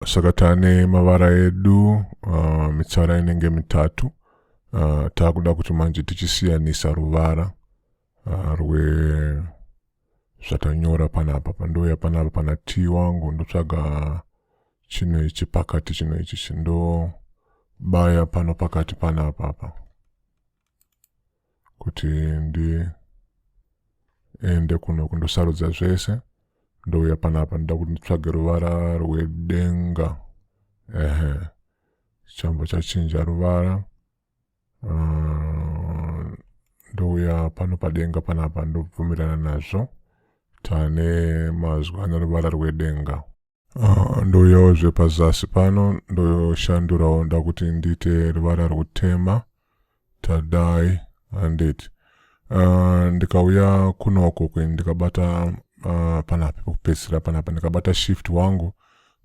saka tane mavara edu uh, mitsara inenge mitatu uh, taakuda kuti manje tichisiyanisa ruvara uh, rwe zvatanyora panapa pandouya panapa pana t wangu ndotsvaga chino ichi pakati chino ichi chindobaya pano pakati panapa apa kuti ndiende kuno kundosarudza zvese ndouya panapa ndoda kuti nditsvage ruvara rwedenga ehe chamba chachinja ruvara ah, ndouya pano padenga panapa ndobvumirana nazvo tane mazwi anoruvara rwedenga Uh, ndouyawo zvepazasi pano ndoshandurawo ndakuti ndiite ruvara rwutema tadai handiti uh, ndikauya kunoko kweni ndikabata uh, panapi pekupedzisira panapa ndikabata shift wangu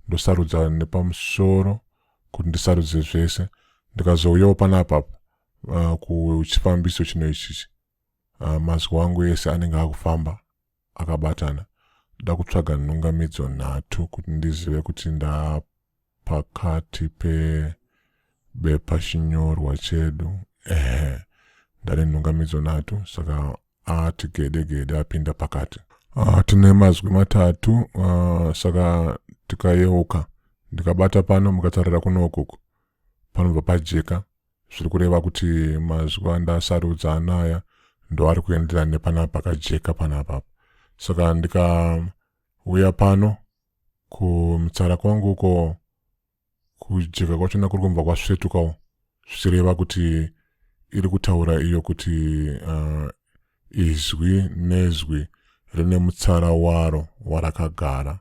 ndosarudza nepamusoro kuti ndisarudze zvese ndikazouyawo panapapa uh, kuchifambiso chino ichichi uh, mazwi wangu ese anenge akufamba akabatana ndakutsvaga nhungamidzo nhatu kuti ndizive kuti ndapakati pebepa chinyorwa chedu ehe ndane nhungamidzo nhatu saka ati gede gede apinda pakati ah, tine mazwi matatu ah, saka tikayeuka ndikabata pano mukatarira kuno ukuku panobva pajeka zviri kureva kuti mazuva andasarudza anaya ndoari kuenderana nepanapa pakajeka panapa saka ndikauya pano kumitsara kwangu uko kujeka kwachona kuri kunbva kwasvetukawo zvichireva kuti iri kutaura iyo kuti uh, izwi nezwi rine mutsara waro warakagara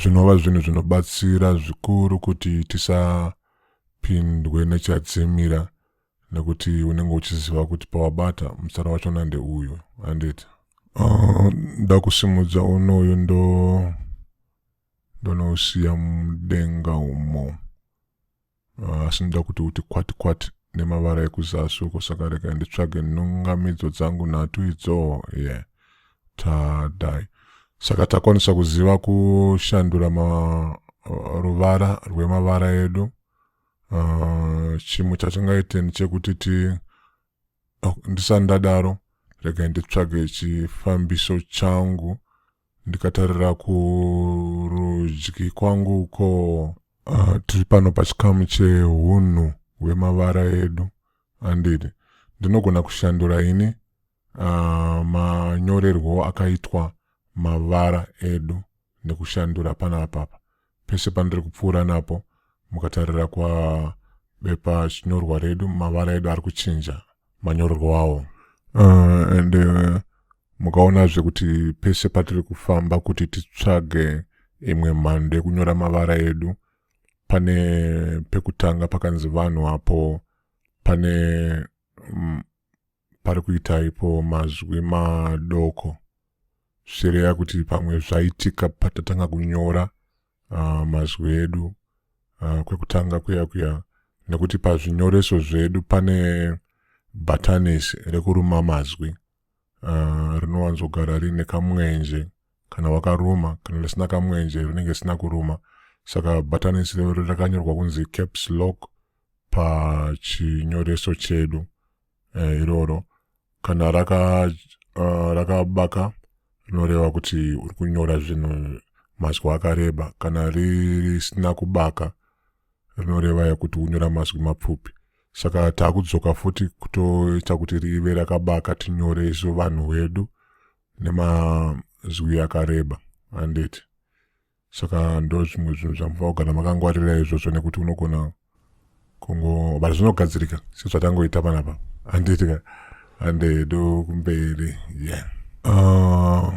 zvinova zvinhu zvinobatsira zvikuru kuti tisapindwe nechadzimira nekuti unenge uchiziva kuti pawabata mutsara wacho nande uyu handiti ah, ndakusimudza uh, unoyu ndo ndonousiya mudenga umo Ah, asi ndoda kuti uti kwati kwati nemavara ekuzasi uko saka rega nditsvage nhungamidzo dzangu nhatu idzo yeah tadai saka takwanisa kuziva kushandura ma, uh, ruvara rwemavara edu uh, chimwe chatingaite ndechekuti ti ndisati ndadaro regai nditsvage chifambiso changu ndikatarira kurudyi kwangu uko uh, tiri pano pachikamu cheunhu hwemavara edu andidi ndinogona kushandura ini uh, manyorerwo akaitwa mavara edu nekushandura pana apapa Pese pandiri kupfuura napo mukatarira kwa bepa chinyorwa redu mavara edu ari kuchinja manyorerwo awo uh, and uh, mukaonazve kuti pese patiri kufamba kuti titsvage imwe mhando yekunyora mavara edu pane pekutanga pakanzi vanhu apo pane mm, pari kuita ipo mazwi madoko zvichireya kuti pamwe zvaitika patatanga kunyora uh, mazwi edu uh, kwekutanga kuya kuya nekuti pazvinyoreso zvedu pane bhatanisi rekuruma mazwi uh, rinowanzogara rine kamwenje kana wakaruma kana risina kamwenje rinenge risina kuruma saka bhatanisi rero rakanyorwa kunzi caps lock pachinyoreso chedu eh, iroro kana raka uh, rakabaka rinoreva kuti uri kunyora zvinhu mazwi akareba kana risina kubaka rinoreva yekuti unyora mazwi mapfupi saka takudzoka futi kutoita kuti rive rakabaka tinyore isu vanhu wedu nemazwi akareba handiti saka ndo zvimwe zvinhu zvamufa kugara makangwarira izvozvo nekuti unogona kungo but zvinogadzirika sezvatangoita panapa anditika ande do kumberi yeah uh,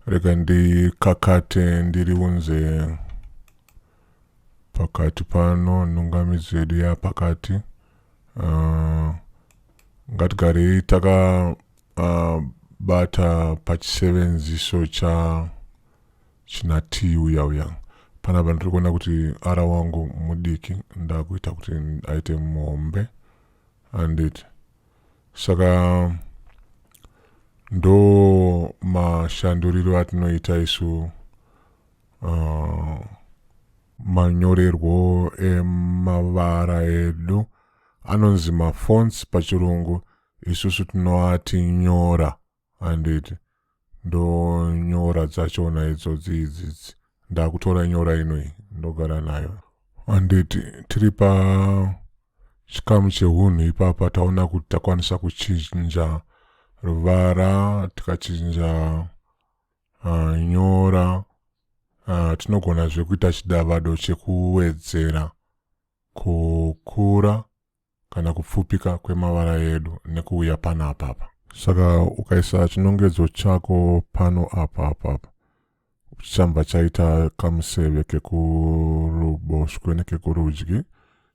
rega ndikakate ndiri unze pakati pano nhungamidzo yedu yapakati uh, ngatigarei takabata uh, pachisevenziso cha china tea uya uya panapa ndiri kuona kuti ara wangu mudiki ndakuita kuti aite muhombe anditi saka ndo mashanduriro atinoita isu uh, manyorerwo emavara edu anonzi mafonts pachirungu isusu tinoati nyora handiti ndonyora dzachona idzodzi idzidzi ndakutora nyora inoi ndogara nayo handiti tiri pa chikamu chehunhu ipapa taona kuti takwanisa kuchinja ruvara tikachinja uh, nyora uh, tinogona zvekuita chidavado chekuwedzera kukura kana kupfupika kwemavara edu nekuuya pano apapa saka ukaisa chinongedzo chako pano apa apapa chichanva chaita kamuseve kekuruboshwe nekekurudyi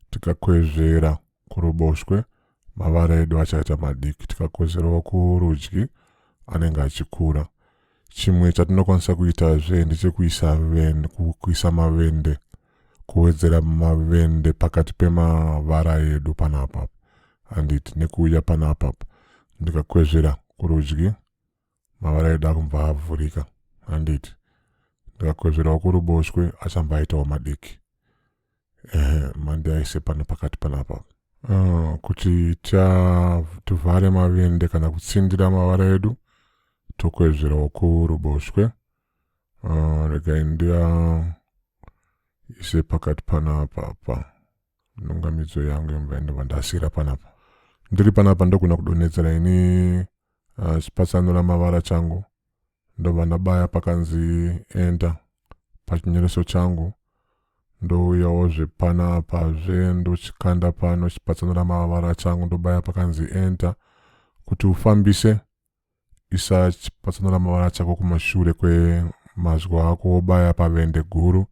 tikakwezvera kuruboshwe mavara edu achaita madiki tikakwezverawo kurudyi anenge achikura Chimwe chatinokwanisa kuitazve ndechekuisa vende, kuisa mavende kuwedzera mavende pakati pemavara edu panapa handiti nekuuya panapa ndikakwezvera kurudyi mavara edu akubva avhurika handiti ndikakwezverawo kuruboshwe achambva aitawo madiki ehe mandi aise pano pakati panapa uh, kuti tivhare mavende kana kutsindira mavara edu tokwezverawo kuruboshwe uh, regai ndia ise pakati panapa apa nhungamidzo yangu yemva ndova ndasira panapa ndiri panapa ndogona kudonhedzera ini uh, chipatsanura mavara changu ndobva ndabaya pakanzi enter pachinyoreso changu ndouyawo zvepana apa zve ndochikanda pano chipatsanura mavara changu ndobaya pakanzi enter kuti ufambise isa chipatsanura mavara chako kumashure kwemazwi ako wobaya pavende guru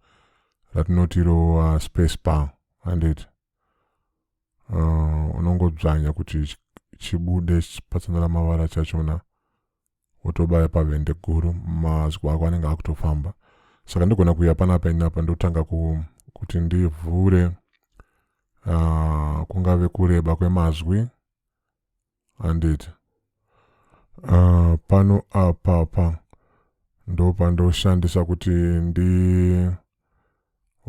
ratinoti ro uh, space bar handiti uh, unongodzvanya kuti chibude chipatsanura mavara chachona wotobaya pavende guru mazwi ako anenge akutofamba saka ndigona kuuya panapa inapa ndotanga ku, kuti ndivhure uh, kungave kureba kwemazwi handiti uh, pano apapa ndopandoshandisa kuti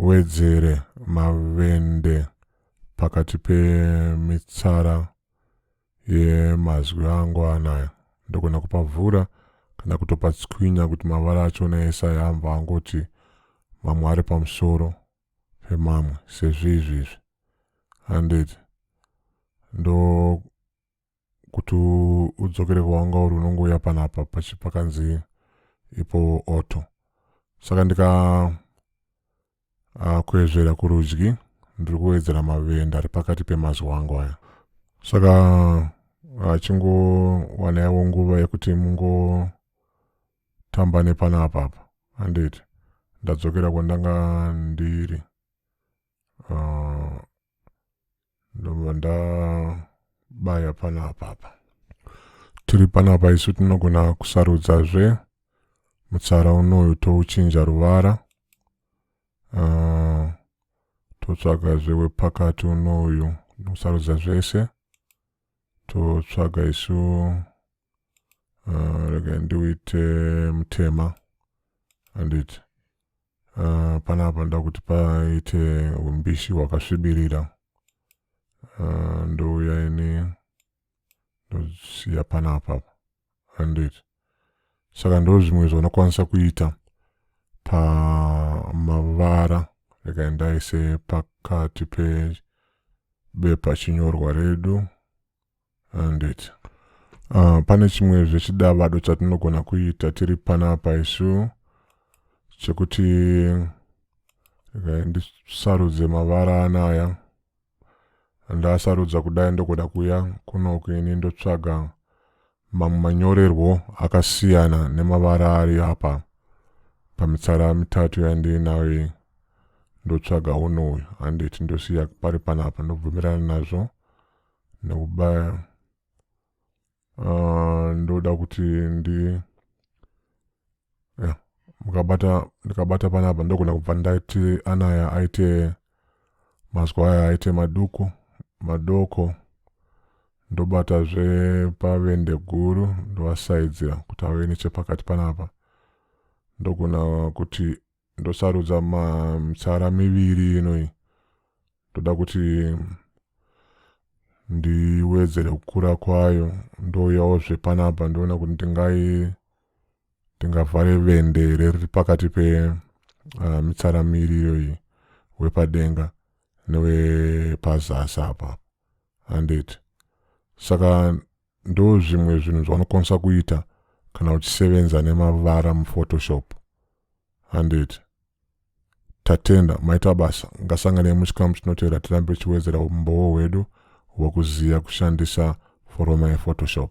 ndiwedzere mavende pakati pemitsara Ye mazwi angu anayo ndogona kupavhura kana kutopatswinya kuti mavara achona ese aya amva angoti mamwe ari pamusoro pemamwe sezviizvizvi handiti ndo kuti udzokere kwawanga uri unongouya panapa pakanzi ipo auto saka ndika Uh, kuezvera kurudyi ndiri kuwedzera mavenda ari pakati pemazuva angu aya saka achingowana ah, yavo nguva yekuti mungotamba nepana apapa handiti ndadzokera kwandanga ndiri uh, ndobva ndabaya pana apapa tiri panapa isu tinogona kusarudzazve mutsara unoyu touchinja ruvara uh, totsvagazve wepakati unoyu nokusarudza zvese totsvaga isu uh, rega ndiuite mutema handiti uh, panapa nda kuti paite umbishi hwakasvibirira uh, ndouya ini ndosiya panapa handiti saka ndo zvimwe zvaunokwanisa kuita pamavara rekai ndaise pakati pebepa chinyorwa redu handiti uh, ah, pane chimwe zvechidavado chatinogona kuita tiri panapa isu chekuti rekai ndisarudze mavara anaya Ndasarudza kudai ndokuda kuya kunoku ini ndotsvaga mamwe manyorerwo akasiyana nemavara ari apa pamitsara mitatu yandiinayo iyi ndotsvaga uno uyu handiti ndosiya pari panapa ndobvumirana nazvo nekubaya uh, ndoda kuti ndi yeah, mukabata ndikabata panapa ndogona kubva ndaiti anaya aite mazwi aya aite maduku madoko ndobatazve pavende guru ndovasaidzira kuti ave nechepakati panapa ndogona kuti ndosarudza mitsara miviri inoi ndoda kuti ndiwedzere kukura kwayo ndouyawo zvepanapa ndoona kuti ndingai ndingavhare vende here riri pakati pe uh, mitsara miri iyoyi wepadenga newepazasi apa handiti saka Ndo zvimwe zvinhu zvaunokwanisa kuita kana uchisevenza nemavara muphotoshop handiti tatenda maita basa ngasanganei muchikamu chinotevera tirambe tichiwedzera umbowo hwedu hwekuziva kushandisa foroma yephotoshop